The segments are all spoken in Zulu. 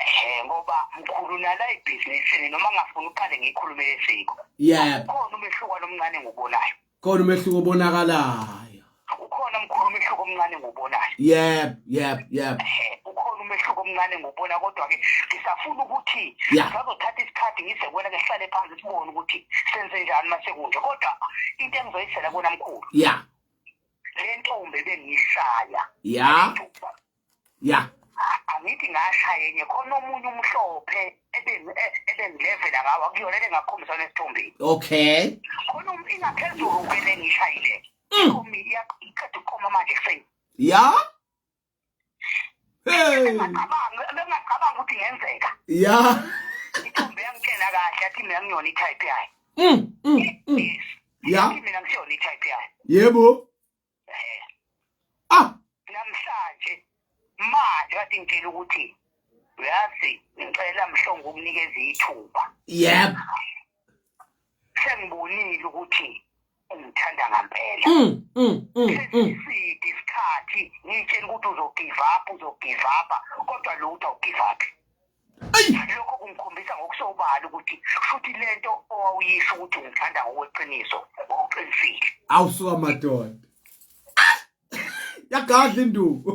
Eh ngoba mkhulu nala ibhizinisini noma ngafuna uqale ngikhulume lesiko. Yebo. Khona umehluko nomncane ngobonayo. Khona umehluko obonakalayo. Ukhona mkhulu umehluko omncane ngobonayo. Yebo, yebo, yebo. Eh ukhona umehluko omncane ngobona kodwa ke ngisafuna ukuthi ngizothatha isikhathi ngise kwena ngehlale phansi sibone ukuthi senze njani masekunje kodwa into engizoyisela kona mkhulu. Yeah. Le ntombi bengiyishaya. Yeah. ya angithi ngashaya enye khona omunye umhlophe ebengilevela e, ngawo akuyona le ngakhombisa nesithombeni okay khona um, ingaphezulu kwele ngishayile mm. iqeda ukuqoma manje kuseni ya bengacabangi ukuthi ngenzeka ya ithombe yangitshela kahle athi mina ngiyona i-type yayo mm, mm, ya mina ngisiyona i-type yayo yebo eh ah namhlanje manje wathi ngitshela ukuthi uyazi ngicela mhlongo ukunikeza ithuba yep sengibonile ukuthi ungithanda ngampela mm mm mm, mm. sidi isikhathi ngitshela ukuthi uzogive up uzogive up kodwa lo uthi awugive up lokho kungikhombisa ngokusobala ukuthi futhi lento owawuyisho ukuthi ungithanda ngokweqiniso ngokuqinisile awusuka madoda yagadla induku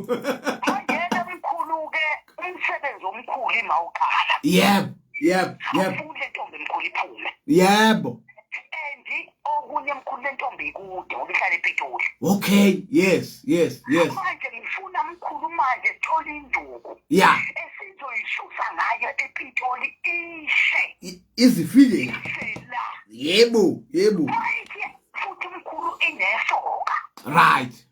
mangena mkhulu-ke umsebenzi omkhulu imawuqala yebo yebo yebo afunde ntombi mkhulu iphume yebo okunye mkhulu lentombi ikude ngoba ihlala ePitoli okay yes yes yes manje ngifuna mkhulu manje sithola induku ya esizoyisusa ngayo ePitoli ishe izifike la yebo yebo futhi mkhulu inesoka right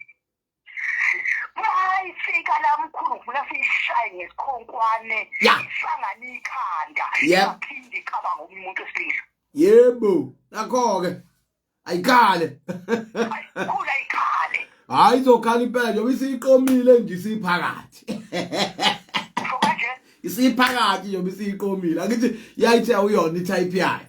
mayifika la mkhulu ngifuna siyishaye ngesikhonkwane isangane ikhanda yaphinde icabanga omunye umuntu esilisa yebo nakho-ke ayikhale ayikhula ikhale hayi izokhala impela njengoba isiyiqomile nje isiphakathi isiphakathi njengoba isiyiqomile angithi yayithi awuyona i-type yayo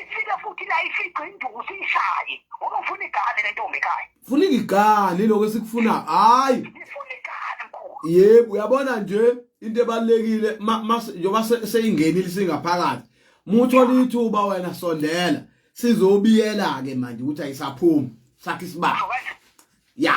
ifike futhi la ifice induku siyishaye ngoba ufuna igane le ntombi ekhaya funa igane lokho esikufuna hayi ifuna igane mkhulu yebo uyabona nje into ebalekile njengoba seyingenile singaphakathi muthola ithuba wena sondela sizobiyela ke manje ukuthi ayisaphumi sakhe isibaba ya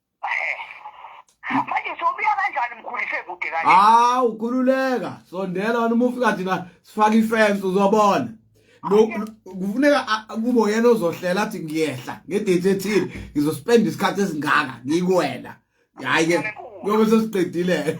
manje sobuya kanjani mkhulise kude kanje hawu ukhululeka sondela wena uma ufika thina sifaka ifence uzobona kufuneka kubo yena ozohlela athi ngiyehla ngedate ethile ngizospenda isikhathi esingaka ngikuwena hayi ke ngoba sesiqedile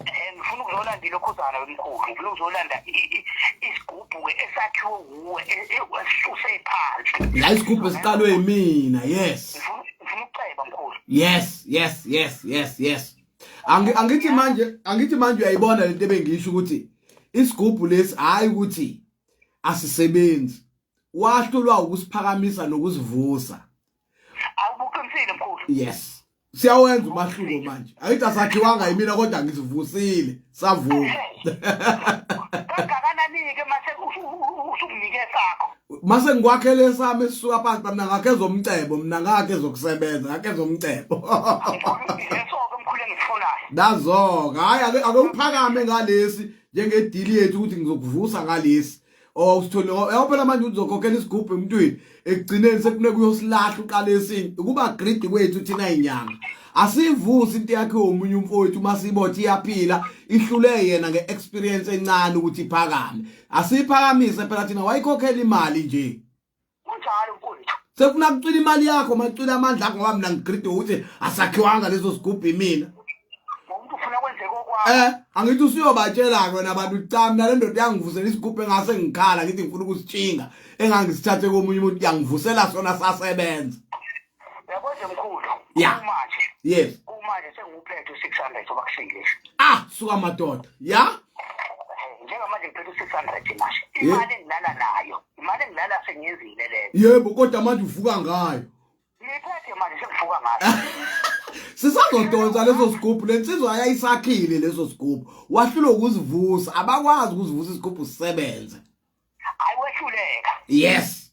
and ngifuna ukuzolanda ilokhuzana wemkhulu ngifuna ukuzolanda isigubhu-ke esakhiwe wuwe e- e- esisuse phansi la isigubhu esiqalwe yimina yes ngifuna ukuceba mkhulu yes yes yes yes yes angithi manje angithi manje uyayibona lento ebengiyisho ukuthi isigubhu lesi hayi ukuthi asisebenzi wahlulwa ukusiphakamisa nokusivusa awubuqinisile mkhulu yes siyawenza umahluko manje ayithi asakhiwanga yimina kodwa ngizivusile savuka kangakanani-ke mase usunginike sakho mase ngikwakhele esami esisuka phansi bamna ngakhe zomcebo mna ngakhe zokusebenza ngakhe zomcebo nazo-ke hhayi ake uphakame ngalesi njengedili yethu ukuthi ngizokuvusa ngalesi or usithole yabo phela manje uzokhokhela isigubhu emntwini ekugcineni sekufuneka uyosilahla uqala esinye ukuba greedy kwethu thina inyanga asivusi into yakhe omunye umfowethu uma sibothi iyaphila ihlule yena nge-experience encane ukuthi iphakame asiphakamise phela thina wayikhokhela imali nje kunjalo mfowethu sefuna kucwila imali yakho macwila amandla akho ngoba mina ngigride ukuthi asakhiwanga leso sigubhu imina umuntu ufuna kwenzeka okwakho eh angithi usuyobatshela-ke wena bantu cha mina le ndoda yangivusela isigubhu engase ngikhala ngithi ngifuna ukusitshinga engangisithathe komunye umuntu yangivusela sona sasebenza yabo nje mkhulu Yeah. kumanje yes kumanje senguphethe u-600 soba kusingisha ah suka madoda ya njengamanje ngiphethe u-600 manje imali engilala nayo imali engilala sengiyenzile leyo yebo kodwa manje uvuka ngayo ngiyiphethe manje sengivuka ngayo sisazodonsa leso sigubhu lensizwa yayisakhile leso sigubhu wahlulwa ukuzivusa abakwazi ukuzivusa isigubhu sisebenze ayiwehluleka yes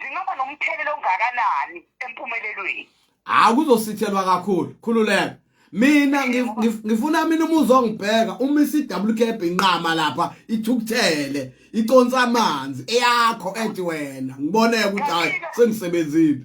zingaba nomthelela ongakanani empumelelweni hayi kuzosithelwa kakhulu khululeka mina ngifuna mina umuzi ongibheka uma isiwkb inqama lapha ithukuthele iconsa amanzi eyakho ethi wena ngiboneke ukuthi hayi sengisebenzile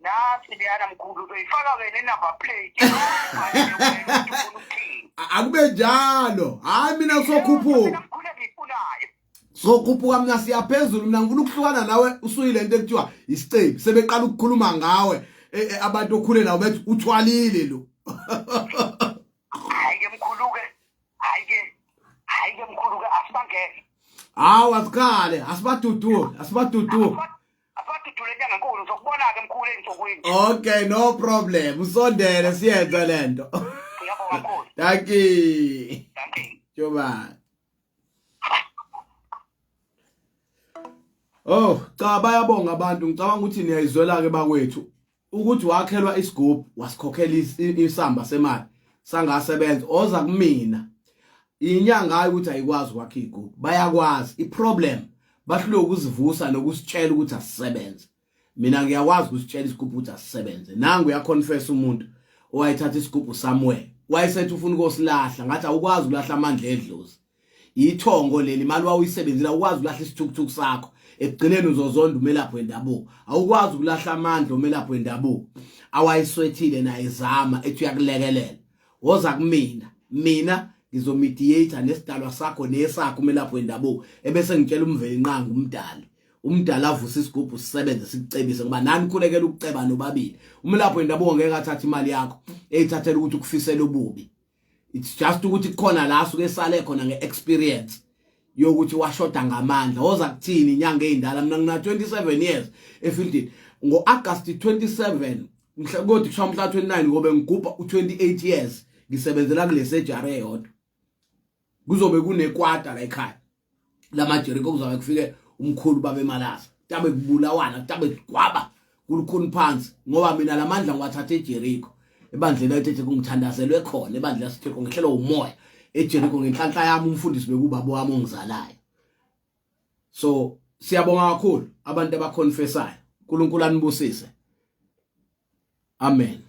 Nasi leyana mkhulu uzoyifaka wena inumber plate. A- akube njalo hayi mina kusokhuphuka Mkhulu engiyifunayo. sokhuphuka mina siyaphezulu mina ngifuna ukuhlukana nawe usuyile into ekuthiwa isicebi sebeqala ukukhuluma ngawe eh, eh, abantu okhule nawo bethi uthwalile lo Hayi ke mkhulu ke. Hayi ke. Hayi ke mkhulu ke asibangeke. hawu asikhale asibadudule asibadudule Asadudule nyanga nkulu ngizokubona ke mkhulu ensukwini. Okay no problem usondele siyenze lento. Ngiyabonga mkhulu. Thank you. Thank you. Joba. Oh, cha bayabonga abantu ngicabanga ukuthi niyayizwela ke bakwethu. ukuthi wakhelwa isigubhu wasikhokhela isamba semali sangasebenza oza kumina inyanga hayi ukuthi ayikwazi ukwakha igubhu bayakwazi iproblem bahlule ukuzivusa nokusitshela ukuthi asisebenze mina ngiyakwazi ukusitshela isigubhu ukuthi asisebenze nangu uyaconfess umuntu owayethatha isigubhu somewhere wayesethi ufuna ukusilahla ngathi awukwazi ukulahla amandla edlozi yithongo leli imali wawuyisebenzela ukwazi ukulahla isithukuthuku sakho ekugcineni uzozonda umelaphi wendabuko awukwazi ukulahla amandla umelaphi wendabuko awayiswethile naye zama ethi uyakulekelela woza kumina mina ngizomediator nesidalwa sakho nesakho umelaphi wendabuko ebese ngitshela umveli inqanga umdali umdala avuse isigubhu sisebenze sikucebise ngoba nani khulekela ukuceba nobabili umelaphi wendabuko ngeke athathe imali yakho eyithathela ukuthi ukufisela ububi it's just ukuthi kukhona la suke sale khona ngeexperience yokuthi washoda ngamandla woza kuthini inyanga ezindala mina ngina 27 years efieldini ngo August 27 mhla kodwa kusha mhla 29 ngobe ngigubha u28 years ngisebenzela kule surgery eyodwa kuzobe kunekwata la ekhaya lamajeriko kuzobe kufike umkhulu babe malasa tabe kubulawana tabe kwaba kulukhuni phansi ngoba mina lamandla ngiwathatha ejeriko ebandleni ayithethe kungithandazelwe khona ebandla sitheko ngehlelo umoya ejeriko ngenhlanhla yami umfundisi bekubaba wami ongizalayo so siyabonga kakhulu abantu abaconfessayo uNkulunkulu anibusise amen